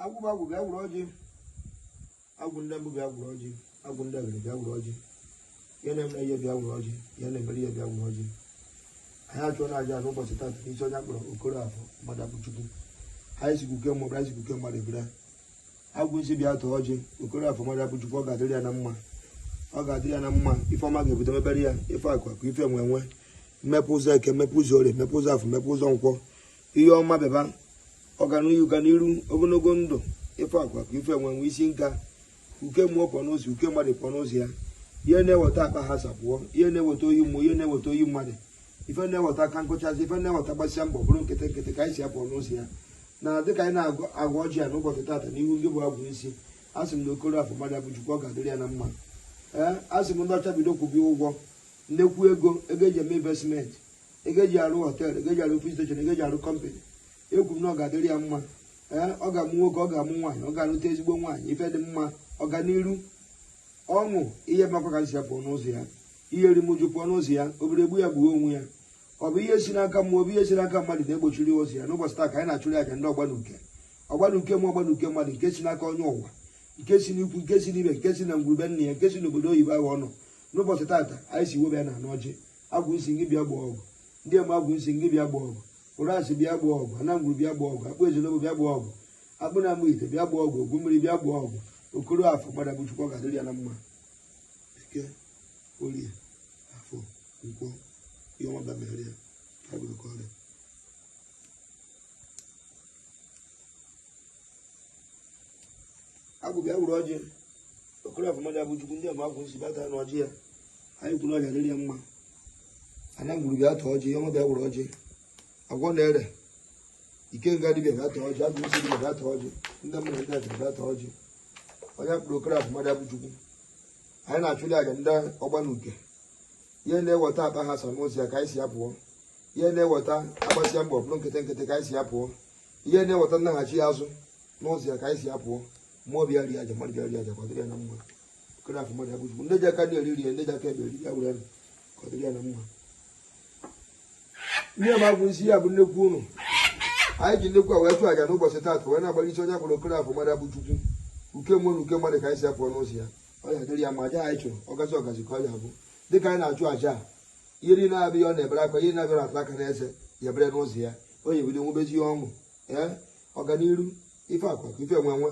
agwụ bụ agwụ bịa gwụrụ ọjị agwụ ndị mbụ bịa gwụrụ ọjị agwụ ndị abịrị bịa gwụrụ ọjị ihe na-eme ihe bịa gwụrụ ọjị ihe na-emere ihe bịa gwụrụ ọjị anyị achụọna aja n'ụbọchị taata n'isi onye a kpọrọ okoroafọ mmadụabụchukwu anyị sị ka uke mmụọ anyị sị ka uke mmadụ ebere agwụnsi bịa taa ọjị okoroafọ mmadụabụchukwu ọ ga-adịrị ya na mma ọ ga-adịrị ya na mma ife ọma ga-ebido mebere ya ife akụ akụ ife enwe enwe mmepe ụzọ eke mmepe ụzọ orie mmepe ụzọ afọ mmepe ụzọ nkwọ ihe ọma bịaba ọganihu ga n'iru ogologo ndụ ife akụ akụ ife enwe enwe a sị m ka uke mmụọ pụọ n'ụzọ uke mmadụ pụọ n'ụzọ ya ihe na-eweta akpa aghasa pụọ ihe na-eweta oyi mmụọ ihe na-eweta oyi mmadụ ife na-eweta aka nkụchasị ife na-eweta agbasịa mbọ bụrụ nkịtị nkịtị ka anyị sị ya pụọ n'ụzọ ya na dịka anyị na-agọ ọjị ya n'ụbọchị taata n'ihu ndị bụ agwụ isi a sị m na okoroafọ mmadụabụchukwu ọ ga-adịrị ya na mma ee a sị m ndị ọcha bido kwụbe ya ụgwọ nnekwu ego ego eji eme investmenti ego eji arụ họteelụ ego eji arụ ofis steshọn ego eji arụ kọmpanị ekwu m na ọ ga-adịrị ya mma ee ọ ga-amụ nwoke ọ ga-amụ nwaanyị ọ ga-alụta ezigbo nwaanyị ife dị mma ọganiru ọṅụ ihe makwa ka m sị ya pụọ n'ụzọ ya ihe erimụju pụọ n'ụzọ ya ọ bịara egbu ya gbuo onwe ya ọ bụ ihe si n'aka mmụọ ọ bụ ihe si n'aka mmadụ na-egbochiri ụzọ ya n'ụbọchị taa ka anyị na-achụrụ aja ndị ọgbanuke ọgbanuke mmụọ ọgbanuke mmadụ nke si n'aka onye ụwa nke si n'ikwu nke si n'ibe nke si na ngwuru be nna ya nke si n'obodo oyibo ahụ ọ nọ n'ụbọchị taata anyị si webe ya na n'ọjị agwụ isi gị bịa gbaa ọgụ ndị eme agwụ isi gị bịa gbaa ọgụ ụrasị bịa gbaa ọgụ ana ngwuru bịa gbaa ọgụ akpụ ezenobo bịa gbaa ọgụ akpụ na-amụ ite bịa gbaa ọgụ ogwu mmiri bịa gbaa ọgụ okoroafọ mmadụabụchukwu ọ ga-adịrị ya na mma eke orie afọ nkwọ ihe ọma bịa mere ya ka bụrụ ka ọrịa agwụ bịa wuru ọjị okoroafọ mmadụabụchukwu ndị ọma agwụ nsi bata na ọjị ya anyị kwuru ọ ya-adịrị ya mma ana ngwuru bịa taa ọjị ihe ọma bịa wuru ọjị agwụ na-ere ikenga dibịa bịa taa ọjị agwụ isi dibịa bịa taa ọjị ndị mmadụ ndị atịrị bịa taa ọjị onye a kpọrọ okoroafọ mmadụabụchukwu anyị na-achụli aja ndị ọgbanuke ihe na-eweta akpa aghasa n'ụzọ ya ka anyị sị ya pụọ ihe na-eweta agbasịa mbọ bụrụ nkịtị nkịtị ka anyị sị ya pụọ ihe na-eweta nnaghachi azụ n'ụzọ ya ka anyị sị ya pụọ mmụọ bịa rie aja mmadụ bịa rie aja ka ọ dịrị ya na mma okoroafọ mmadụabụchukwu ndị ji aka nri eri rie ndị ji aka ekpe eri ya were ka ọ dịrị ya na mma ihe ma bụ isi ya bụ nnekwu ụnụ anyị ji nnekwu a wee chụọ aja n'ụbọchị taata wee na-agbara isi onye a kpọrọ okoroafọ mmadụabụchukwu uke mmụọ na uke mmadụ ka anyị sị ya pụọ n'ụzọ ya ọ ya-adịrị ya mma aja anyị chụrụ ọgazi ọgazi ka ọ ya bụ dịka anyị na-achụ aja a ihe niile na-abịa ya ọ na-ebere akwa ihe na-abịa na-ata aka n'eze ya ebere n'ụzọ ya ọ ya-ebido nwebezi ọṅụ ee ọganiru ife akụ akụ ife enwe enwe